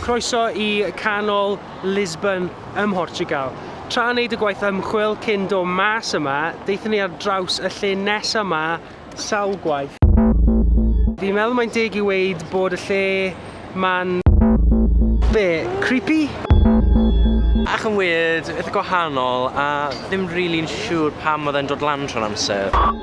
Croeso i Canol Lisbon ym Mhortiwgal. Tra wneud y gwaith ymchwil cyn dod mas yma, daethon ni ar draws y lle nesa 'ma sawl gwaith. Fi'n meddwl mae'n deg i weud bod y lle 'ma'n... be? Creepy? Ac yn weird, eitha gwahanol, a ddim rili'n siwr pam oedd e'n dod lan trwy'r amser.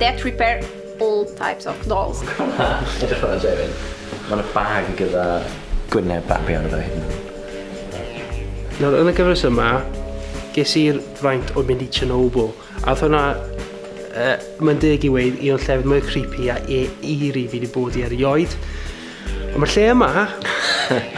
That repair all types of dolls. Edrych arno Jay fan hyn. Mae yna bag gyda gwyneb babi arno fe hyd yn oed. Nawr yn y gyfres yma, ges i'r fraint o mynd i Chernobyl, a oedd hwnna, yy, mae'n deg i weud, un o'r llefydd mwyaf creepy a e- eerie fi wedi bod i erioed. Ond mae lle yma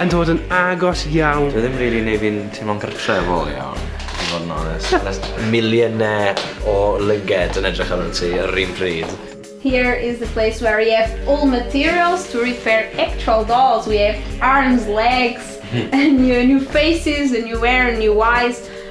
yn dod yn agos iawn. Dwi ddim rili neu fi'n teimlo'n gartre efo fo iawn, i fod yn onest. There's millionaire o lygaid yn edrych arnat ti yr un pryd. Here is the place where we have all materials to repair actual dolls, we have arms, legs, new faces, a new hair, new eyes.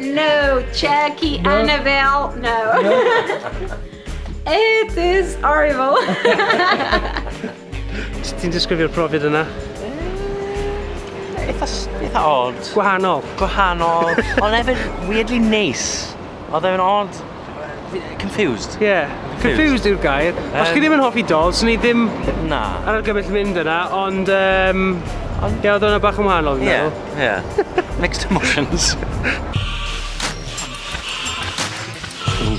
No, check i no. Annabelle, no. no. It is horrible. Ti'n disgrifio'r profiad yna? Eitha, eitha odd. Gwahanol. Gwahanol. Ond hefyd, weirdly neis. Oedd e'n odd Confused. Ie. Yeah. Confused yw'r gair. Um, Os chi ddim yn hoffi dol, swn i ddim... Na. ...ar argymell mynd yna, ond... Um, ond... Ie, oedd hwnna bach yn wahanol, fi'n meddwl. Ie, ie. Mixed emotions. Ooh,